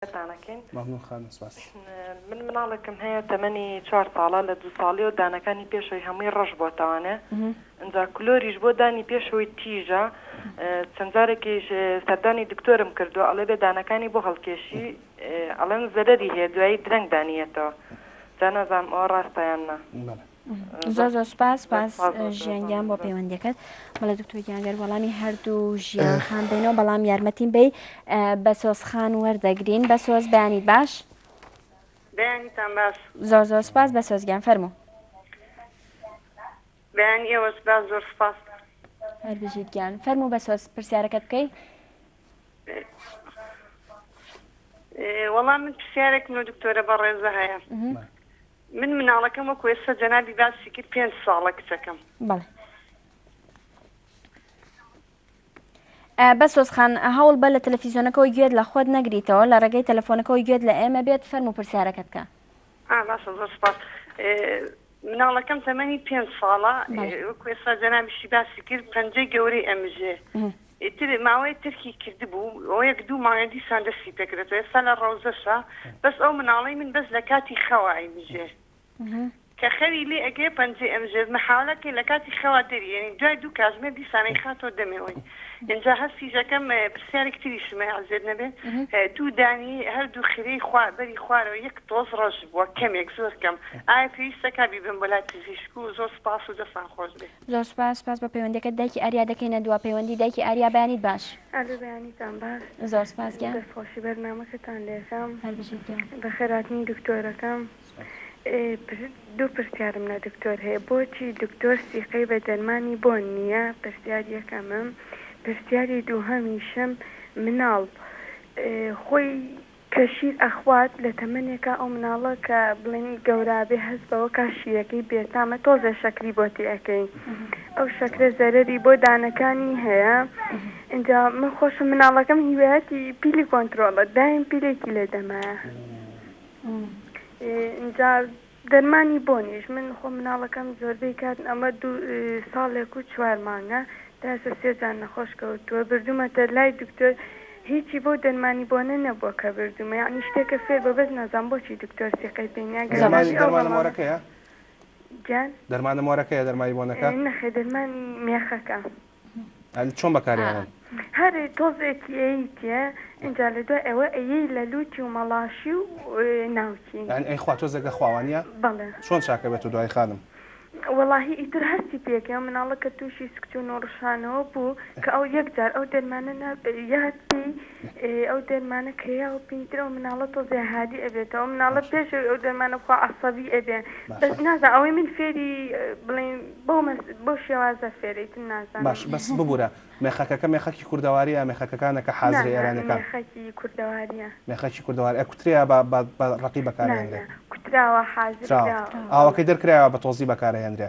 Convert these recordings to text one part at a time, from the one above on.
تانەکەین مەمنون خانم سپاس. من مناڵێکم هەیە تەمەنی چوار ساڵە لە دوو ساڵیەوە دانەکانی پێشەوەی هەمووی ڕەش بۆتەوانێ ئنجا کلۆریش بۆ دانی پێشەوەی تیژە چەند جارێکیش سەردانی دکتۆرم کردوە ئەڵێ بێ دانەکانی بۆ هەڵکێشی ئەڵێن زەرەری هەیە دوایی درەنگ دانیەتەوە جا نازام ئەوە ڕاستە یان نا. بەڵێ زۆر زۆر سپاس سپاس ژیان گیان بۆ پەیوەندەکەت بەڵێ دکتۆر گیانگەر وەڵامی هەردوو ژیان خان بینەوە بەڵام یارمەتیم بی بە سۆز خان وەردەگرین بە سۆز بەیانی باش بەیانیتان باش زۆر زۆر سپاس بە سۆزگیان فەرمو بەیان ئێوەش باش زۆر سپاس هەربژیت گیان فەرمو بە سۆز پرسیارەکەت بکەیت وەڵام من پرسیارێک من دکتۆرە بەڕێزە هەیە من مناڵەکەم وەکو ئێستا جەنابی باسی کرد پێنج ساڵە کچەکەم. بەڵێ. بەسۆز خان هەوڵ بە لە تەلەفیزیۆنەکەەوە گوێت لە خۆت نەگریتەوە لە ڕێگەی تەلەفۆنەکەەوە گوێت لە ئێمە بێت فەرم و پرسیارەکە بکە باشە زۆر سپاس مناڵەکەم تەمەنی پێنج ساڵە کوێستا جەنامیشی باسی کرد پەنجەی گەورەی ئەمژێ ئیتر ماوەیە تەرکی کردبوو و یەک دوو مانگە دیسان دەستی پێکرد تۆ ئێستا لە ڕەوزەشە بەس ئەو مناڵەی من بەس لە کاتی خەوا ئەیمژێ کە خەوی لێ ئەگرێ پەنجەی ئەمژێت محاولە کەین لە کاتی خەوا دەری ئەنین دوای دوو کاتژمێر دیسان ئەیخاتەوە دەمێوین ئینجا هەستیش ئەکەم پرسیارێکی تریشم هەیە عەزێت نەبێت دوو دانی هەردوو خرێی خوا بەری خوارەوە یەک تۆز ڕەش بووە کەمێک زۆر کەم ئایا پێویستەکە بیبەم بۆ لای پزیشک و زۆر سوپاس و دەستان خۆش بێ زۆر سوپاس سوپاس بۆ پەیوەندیەکەت دایکی ئاریا دەکەینە دوا پەیوەندی دایکی ئاریا بەیانیت باش. ئەلو بەیانیتان باش زۆر سوپاس گیان. دەست خۆشی بەرنامەکەتان لێکەم هەر بژیت گیان. بەخێر هاتنی دکتۆرەکەم سوپاس. دوو پرسیارم لە دکتۆر هەیە بۆچی دکتۆر سیقەی بە دەرمانی بۆن نیە پرسیار یەکەمم پرسیاری دووهەمیشم مناڵ خۆی. کە شیر ئەخوات لە تەمەنێکا ئەو مناڵە کە بڵێن گەورابێ هەست بەوە کا شیرەکەی بێتامە تۆزێ شەکری بۆ تێئەکەی ئەو شەکرە زەرەری بۆ دانەکانی هەیە ئینجا من خۆشم مناڵەکەم هیوایەتی پیلی کۆنترۆڵە دایم پیلێکی لێ دەمایە ئینجا دەرمانی بۆنیش من خۆم مناڵەکەم زۆربەی کات ئەمە دوو ساڵێک و چوار مانگە تا ئێستا سێ جار نەخۆش کەوتووە بردوومەتە لای دکتۆر هیچی بەو دەرمانی بۆنە نەبووە کە بردوومە یەعنی شتێکە فێر بە بەس نازام بۆچی دکتۆر سیقەی پێ نیە گەر دەرمانی نەبی ئەو دەرمانە بەڵامە مۆرەکەیە؟ گیان دەرمانە مۆرەکەیە دەرمانی بۆنەکە؟ نەخێر دەرمانی مێخەکە. چۆن بەکاریانن. هەر تۆزێک ئێیتێ ئینجا لە دوای ئەوە ئەیەی لە لوتی و مەڵاشی و ناوکی. یانی ئەی خوا تۆزێک ئەخوا وانیە؟ بەڵێ. چۆن چاکە بێتۆ دوای خانم؟ وەڵاهی ئیتر هەستی پێک ئەم مناڵە کە توشی سکچون و ڕشانەوە بوو کە ئەو یەک جار ئەو دەرمانە نابێ یاد پێی ئێ ئەو دەرمانە کە یا و پینتر ئەو مناڵە تۆزێ هادی ئەبێتەوە ئەو مناڵە پێش ئەوی ئەو دەرمانە بخوا عەسەبی ئەبێ بەس باشە نازانم ئەوەی من فێری بڵێین بەو مەس بەو شێوازە فێرە ئیتر نازانم باشە بەس ببورە مێخەکەکە مێخەکی کوردەواریە یا مێخەکەکانە کە نا حازرە نا ئێرانیەکان مێخەکی کوردەواریە مێخەکی کوردەوار ئەکوترێیا بە بە بە ڕەقی نا نا بەکارئەهێنرێ کوتراوە حازر کراوە کراوە کراوە ئاوەکەی دەرکرایەوە بە تۆزی بەکارئەهێنرێ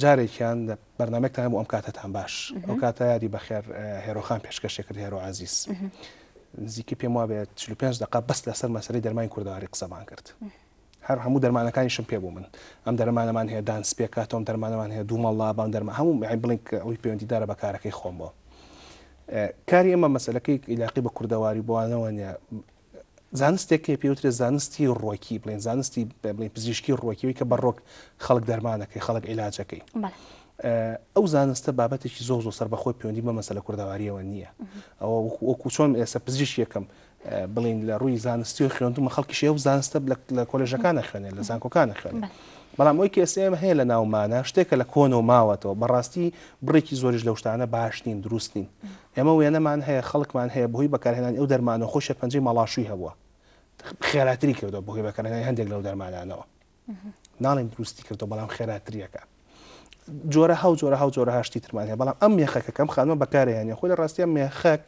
جارێکیان لە بەرنامەکتان بۆ ئەم کاتەتان باش ئەو کاتە یادی بەخێر هێرۆخان پێشکەشێ کرد هێرۆ عزیز نزیکی پێم وابێت 45 دقا بەس لەسەر مەسەری دەرمانی کوردەواری قسەمان کرد هەر هەموو دەرمانەکانی شم پێ بوو من ئەم دەرمانەمان هەیە دانس پێکاتۆم دەرمانەمان هەیە دوو مەڵا بام دەرمە هەموو بڵین ئەوی پەیوەندیدارە بە کارەکەی خۆم بۆ کاری ئەمە مەسلەکەی عیلاقی بە کوردەواری بۆوانەوە نیە زانستێک هەیە پێی وترێ زانستی ڕۆکی بڵێن زانستی بڵین پزیشکی ڕۆکی وی کە بە ڕۆک خەڵک دەرمانەکەی خەڵک عیلاجەکەی ئەو زانستە بابەتێکی زۆ زۆ سەر بەخۆی پەیوەندی بە مەسەلە کوردەواریەوە نییە ئەوە وەکو چۆن ئێستا پزیش یەکەم بڵین لە ڕووی زانستی و خوێندومە خەڵکی شێ و زانستە لە کۆلژەکانە خوێنێ لە زانکۆکانە خوێنێ بەڵام ئەوی کەسێمە هەیە لە ناومانە شتێکە لە کۆنەوە ماوەتەوە بەڕاستی بڕێکی زۆریش لەو شتانە باش نین دروست نین ئێمە وێنەمان هەیە خەڵکمان هەیە بەهۆی بەکارهێنانی ئەو دەرمانەوە خۆی شێرپەنجەی مەڵاشووی هەبووە خێراتری کردوە بەهۆی بەکارهێنانی هەندێک لەو دەرمانانەوە ناڵێن دروستی کردو بەڵام خێراتریەکە جۆرە هاو جۆرە هاو جۆرە هاشتی ترمان هەیە بەڵام ئەم مێخەکە کەم خانمە بەکارێنە خۆی لە ڕاستیان مێخەک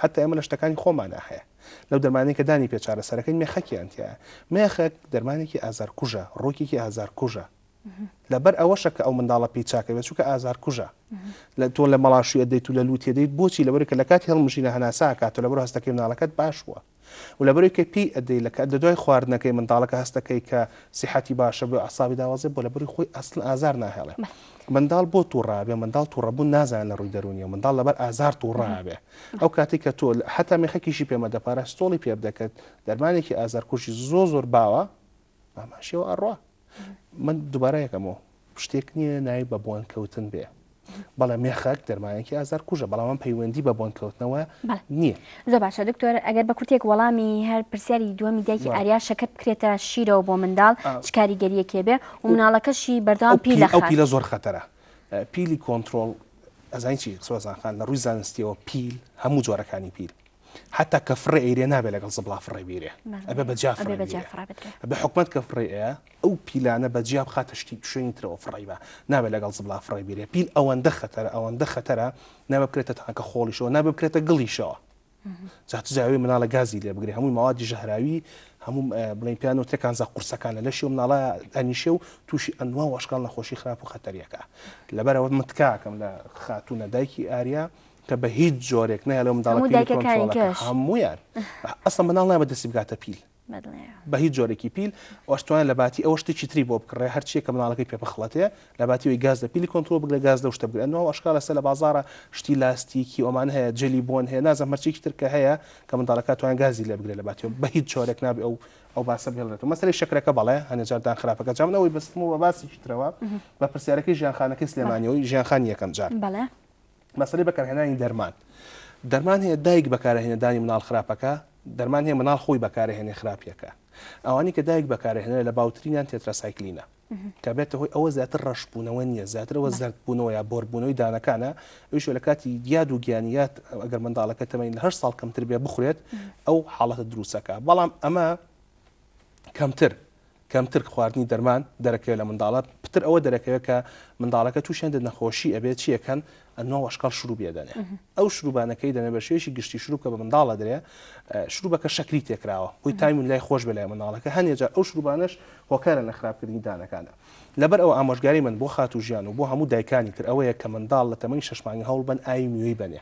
حتا ئێمە لە شتەکانی خۆمانە هەیە لەو دەرمانەکە دانی پێچارە سەرەکەی مێخەکیان تایە مێخەک دەرمانێکی ئازار کوژە ڕۆکێکی ئازار کوژە لەبەر ئەوەشە کە ئەو منداڵە پێی چاکە بێت چونکە ئازارکوژە لە تۆ لە مەڵاشوی ئەدەیت و لە لووت ئەدەیت بۆچی لەبەر کە لە کاتی هەڵمژینە هەناسە ئەکات و لەبەر هەستەکەی منداڵەکەت باش بووە و لەبەر کە پێی ئەدەی لە کە لە دوای خواردنەکەی منداڵەکە هەستەکەی کە سیحەتی باشە بۆ عەسابی داوازێ بۆ لەبەری خۆی ئەسڵ ئازار ناهێڵێ منداڵ بۆ تووڕابێ منداڵ تووڕەبوون نازان لە ڕووی دەرونیەوە منداڵ لەبەر ئازار تووڕابێ ئەو کاتی کە تۆ حتا مێخەکیشی پێمەدە پاراستۆڵی پێ بدە کە دەرمانێکی ئازارکوژی زۆ زۆر باوە ئاماشەوە ئەڕوا من دوبارە یەکەمەوە شتێک نییە ناوی بە بۆن کەوتن بێ بەڵێ مێخەک دەرمانێکی ئازار کوژە بەڵام پەیوەندی بە بۆن کەوتنەوە نییە زۆ باشە دکتۆر ئەگەر بە کوتێک وەڵامی هەر پرسیاری دووەمی دایکی ئاریا شەکەت بکرێتە شیرەوە بۆ منداڵ چکاریگەریەکێ بێ و مناڵەکەشی بەردەوام پی لە خەڵ لە زۆر خەتەرە پیلی کۆنتترۆل ئەزانین چی سۆزانخان لە ڕووی زانستیەوە پیل هەموو جۆرەکانی پیل حەتا کە فڕێ ئەیرێ نابێ لەگەڵ زبڵا فڕێ بیرێ ئەبێ بە جیا فڕێ بیرێ بە حکومەت کە فڕێ ئەیە ئەو پیلانە بە جیا بخاتە شتی شوێنی ترەوە فڕی بە نابێ لەگەڵ زبڵا فڕێ بیرێ پیل ئەوەندە خەتەرە ئەوەندە خەتەرە نابێ بکرێتە تانکە خۆڵیشەوە نابێ بکرێتە گڵیشەوە جا چ جاوی مناڵە گازی لێ بگرێ هەمووی مەوادی ژەهراوی هەموو بڵێن پیان و تێکانزا قورسەکانە لەشی و مناڵە ئەنیشێ و تووشی ئەنوا وەشکال نەخۆشی خراپ و خەتەریەکە لەبەرەوە متکاکەم لە خاتوونە دایکی ئاریا کە بە هیچ جۆرێک نایە لەو منداڵە پیلی کۆنترۆڵ کە هەموویان ئەسڵەن منداڵ نایە بە دەستی بگاتە پیل بە هیچ جۆرێکی پیل ئەوش توانە لە باتی ئەوە شتێکی تری بۆ بکڕێ هەرچیە کە مناڵەکەی پێ بخڵەتێ لە باتیەوەی گاز لە پیلی کۆنتترۆل بگرە گاز لەو شتە بگرنەوە ئەشکال لەسە لە بازارە شتی لاستیکی ئەومان هەیە جلی بۆن هەیە نازم مەرچێکی ترکە هەیە کە منداڵەکە توان گازی لە بگرێ لە باتی بە هیچ چۆرێک نابێ ئەو ئەو باسە بێڵێت مەسەری شکرەکە بەڵێ هەنێجاردان خراپەکە جامنەوەی بەستم و بە باسیشترەوە بە پرسیارەکەی ژیانخانەکەی سلێمانیەوەی ژیانخان یەکەم جار بەڵێ مەسەلەی بەکارهێنانی دەرمان دەرمان هەیە دایک بەکارهێنێ دانی مناڵ خراپەکە دەرمان هەیە مناڵ خۆی بەکارهێنێ خراپیەکە ئەوانی کە دایک بەکارهێنێ لە باوترینیان تێتراسایکلینە کە بێتە هۆی ئەوە زیاتر ڕەشبوونەوە نییە زیاترەوە زەردبوونەوە یا بۆربوونەوەی دانەکانە ئەوش لە کاتی دیاد و گیانیات ئەگەر منداڵەکە تەمەین لەهر ساڵ کەمتر بێ بخورێت ئەو حاڵەتە دروستەکە بەڵام ئەمە کەمتر کەمتر خواردنی دەرمان دەرەکەوێت لە منداڵت پتر ئەوە دەرەکەوێت کە منداڵەکە تووشی هەندێک نەخۆشی ئەبێت چی ئەکەن ئەنۆ وەشکەڵ شروبی ئەدەنێ ئەو شروبانە کەی دەنێ بە شێوەیەکی گشتی شروب کە بە منداڵ ئەدرێ شروبەکە شەکری تێکراوە هۆی تایم و لای خۆش بێ لای منداڵەکە هەندێک جار ئەو شروبانەش هۆکارە لە خراپکردنی دانەکانە لەبەر ئەوە ئامۆژگاری من بۆ خاتوو ژیان و بۆ هەموو دایکانی تر ئەوەیە کە منداڵ لە تەمەنی شەش مانگە هەوڵ بەن ئاوی میوەی بەنێ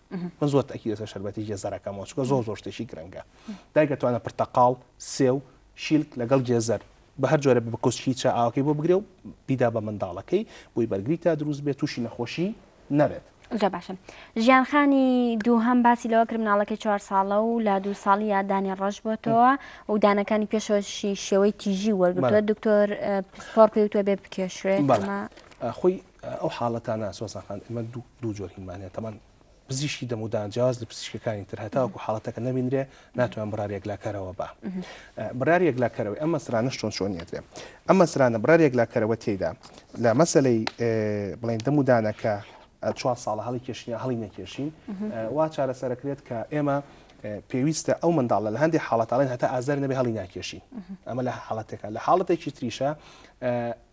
من زۆر تاکیدە سەر شەربەتی گێزەرەکەمەوە چکە زۆر زۆر شتێکی گرنگە دایکە توانە پرتەقاڵ سێو شیلک لەگەڵ گێزەر بە هەر جۆرە بە کۆچکی چا ئاوکەی بۆ بگرێ و بیدا بە منداڵەکەی بۆی بەرگری تا دروست بێت تووشی نەخۆشی نەبێت زۆر باشم ژیانخانی دووهەم باسی لەوە کرد مناڵەکە چوار ساڵە و لا دوو ساڵی یادانی ڕەش بۆتەوە و دانەکانی پێشەوەشی شێوەی تیژی وەرگتووە دکتۆر پسپۆر پێوتوە بێ بکێشرێت خۆی ئەو حاڵەتانە سۆزان خان ئێمە دوو جۆر هینمان هەیە تەمان پزیشکی دەمودان جیاواز لە پزیشکەکانی تر هەتاوەکو حاڵەتەکە نەبینرێ ناتوان بڕار یەکلاکەرەوە بە بڕار یەکلاکەرەوەی ئەم مەسرانەش چۆن چۆن نیەتێ ئەم مەسرانە بڕار یەکلاکەرەوە تێدا لە مەسلەی بڵێن دەمودانەکە چوار ساڵە هەڵی کێشنیا هەڵی نەکێشین وا چارەسەرەکرێت کە ئێمە پێویستە ئەو منداڵە لە هەندی حاڵەتاڵێن هەتا ئازار نەبێ هەڵی ناکێشین ئەمە لە حاڵەتەکە لە حاڵەتێکی تریشە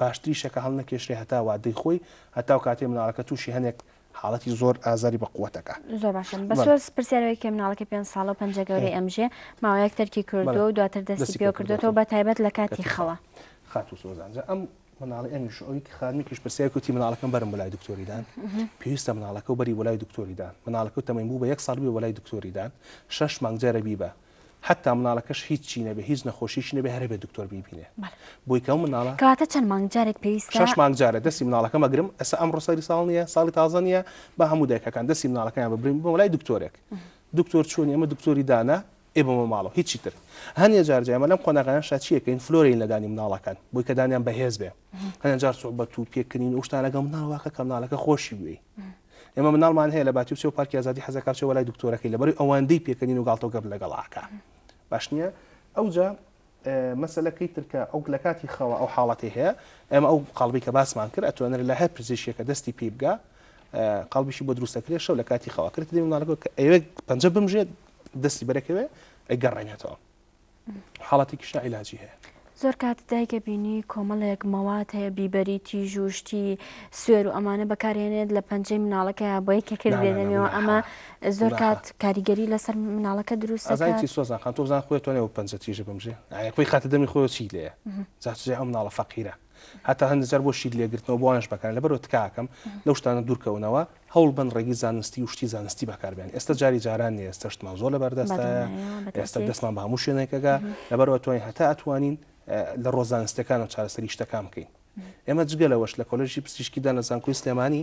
باشتریشە کە هەڵنەکێشرێ هەتا وادەی خۆی هەتاو کاتێ مناڵەکە تووشی هەنێک حاڵەتی زۆر ئازاری بە قوتەکە زۆر باشم بەسۆز پرسیارەوەی کێ مناڵەکە پێ ساڵە و پەنجە گەورەی ئەمژێ ماوەیەک تەرکی کردو و دواتر دەستی پێ کردوێتەوە بە تایبەت لە کاتی خەوە خاتو سۆزانجا ئەم مناڵی ئەمیش ئەوی خانمیکیش پرسیار کوتی مناڵەکەم بەرم بلای دکتۆریدان پێویستە مناڵەکە و بەری وەلای دکتۆریدان مناڵەکە و تەمەین بوو بە یەک ساڵ بێ وەلای دکتۆریدان شەش مانگ جارە بیبە حەتا مناڵەکەش هیچ چی نەبێ هیچ نەخۆشیشی نەبێ هەر هەبێ دکتۆر بیبینێ بۆی کەو مناڵە کەواتە چەند مانگ جارێک پێویستە شش مانگ جارێ دەسی مناڵەکە مەگرم ئەسا ئەمڕۆ سەری ساڵ نییە ساڵی تازە نییە با هەموو دایکەکان دەسی مناڵەکەیان ببرین بۆ لای دکتۆرێک دکتۆر چۆنی ئەمە دکتۆری دانا ئێ بەمە ماڵەوە هیچی تر هەنێ جار جایمە لەم قۆناغیان شاچیەکەین فلۆرین لەدانی مناڵەکان بۆی کە دانیان بەهێز بێ هەنێ جار سوعبەت و پێکردنین و شتانەکە مناڵ واکە کە مناڵەکە خۆشی بوێی ئێمە مناڵمان هەیە لە باتی و چێ و پارکی ئازادی حەزەکە چێ وەلای دکتۆرەکەی لەبەر ئەوەندەی پێکەنین و گاڵتە و گەپ لەگەڵ ئاکا باش نییە ئەوجا مەسلەکەی ترکە ئەو لە کاتی خەوە ئەو حاڵەتی هەیە ئەمە ئەو قالبی کە باسمان کرد ئەتوانێت لە هەر پزیشکێکە دەستی پێ بگە قالبیشی بۆ دروستەکرێت شەو لە کاتی خەوە کرد دەی مناڵەکە کە ئەوێک پەنجە بمژێت دەستی بەرەکەوێ ئەگەڕێنێتەوە حاڵەتێکیشدا عیلاجی هەیە. زۆر کات دایکە بینی کۆمەڵێک مەواد هەیە بیبەری تیژ و شتی سوێر و ئەمانە بەکارهێنێت لە پەنجەی مناڵەکەیە بۆی کە کرد دێنەوە ئەمە زۆر کات کاریگەری لەسەر مناڵەکە دروست ئەزای سۆزان خان تۆزان خۆێتۆنێ و پەنجە تیژە بمژێ خۆی خاتە دەمی خۆی چی لێ جاچێ ئەم مناڵە فەقیرە هەتا هەندێک جار بۆ شیر لێگرتنەوە بۆوانش بەکارن لەبەرو تکاکەم لەو شتانە دوورکەونەوە هەوڵ بەن ڕێگی زانستی و شتی زانستی بەکاربێن ئێستا جاری جاران نیە ئێستا شتمان زۆر لەبەر دەستە ئێستا دەستمان بە هەموو شوێنێکەگا لەبەرەوە توانین هەتا ئەتوانین لە ڕۆزانستەکانەوە چارەسەری شتەکان بکەین ئێمە جگە لەوەش لە کۆلژی پزیشکیدان لە زانکۆی سلێمانی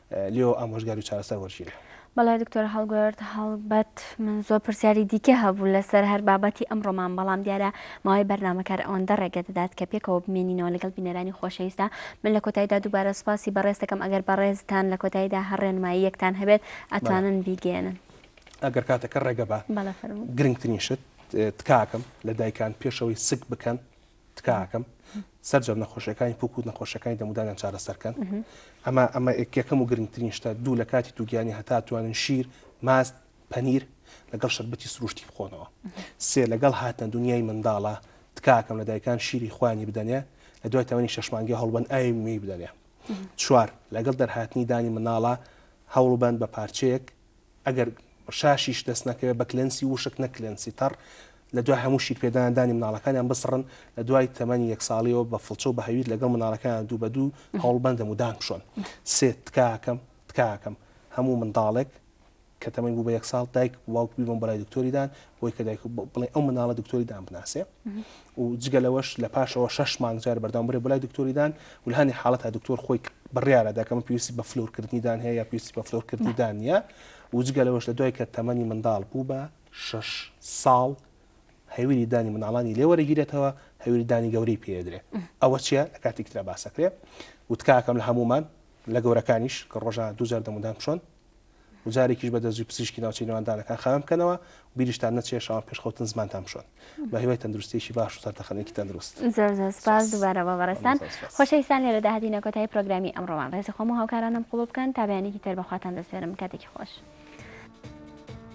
لێوە ئامۆژگاری و چارەسەر وەرگیرێ. بەڵێ دکتۆر هەڵبەت هەڵبەت من زۆر پرسیاری دیکە هەبوو لەسەر هەر بابەتی ئەمڕۆمان بەڵام دیارە ماوەی بەرنامە کار ئەوەندە ڕێگە دەدات کە پێکەوە بمێنینەوە لەگەڵ بینەرانی خۆشەویستە من لە کۆتاییدا دووبارە سوپاسی بەڕێز دەکەم ئەگەر بەڕێزتان لە کۆتاییدا هەر ڕێنماییەکتان هەبێت ئەتوانن بیگەیەنن. ئەگەر کاتەکە ڕێگە با بەڵێ فەرموو. گرنگترین شت تکاکەم لە دایکان پێشەوەی سک بکەن تکاکەم سەرجەم نەخۆشیەکانی پوک و نەخۆشەکانی دەمودانیان چارەسەرکەن ئەمە ئەمە یەکەکەم و گرنگترین شتە دوو لە کاتی دووگیانی هەتا توانن شیر ماست پەنیر لەگەڵ شەربەتی سروشتی بخۆنەوە سێ لەگەڵ هاتنە دنیای منداڵە تکاکەم لە دایکان شیری خوانی بدەنێ لە دوای تەمەنی شەشمانگی هەڵبەن ئاوی موی بدەنێ چوار لەگەڵ دەرهاتنی دانی مناڵە هەوڵبند بە پارچەیەک ئەگەر شاشیش دەست نەکەوێت بە کلێنسی ووشک نەک کلێنسی تەڕ لە دوای هەموو شیر پێدان دانی مناڵەکانیان بسڕن لە دوای تەمەنی یەک ساڵیەوە بە فڵچە و بە هەویر لەگەڵ مناڵەکانیان دوو بە دوو هەوڵ بەن دەمودان بشۆن سێ تکاکەم تکاکەم هەموو منداڵێک کە تەمەنی بوو بە یەک ساڵ دایک باوک بیبەن بەلای دکتۆری دان بۆی کە دایک بڵێ ئەو مناڵە دکتۆری دان بناسێ و جگە لەوەش لە پاشەوە شش مانگ جار بەردام برێ بلای دکتۆری دان ولهانی حاڵەت تا دکتۆر خۆی بڕیاە داکەمە پێویستی بە فلورکردنی دان هەیە یا پێویستی بە فلورکردنی دانە و جگە لەوەش لە دوای کە تەمەنی منداڵ بوو بە شش ساڵ هەویری دانی مناڵانی لێوەرەگیرێتەوە هەویری دانی گەورەی پێدرێ ئەوە چیە لە کاتی تررا باسەکرێ وتکاکەم لە هەمومان لە گەورەکانیش کە ڕۆژە دوجار دەمودان چۆن و جارێکیش بە دەزووی پزیشکی ناوچەی نێواندانەکان خاوێن بکەنەوە و بیریشتان نەچێ شەوان پێش خەوتن زمانتان بشۆن. بە هیوای تەندروستییەکی باش و سەرتەخەنێکی تەندروست. زۆر زۆر سپاس دووبارە بۆ بەڕێزتان. مامۆستا سپاس. خۆشەویستان لێرەدا هاتینە کۆتایی پرۆگرامی ئەمڕۆمان. ڕێزی خۆم و هاوکارانم قبوڵ بکەن تا بەیانێکی تر بە خواتان دەسپێرم. کاتێکی خۆش.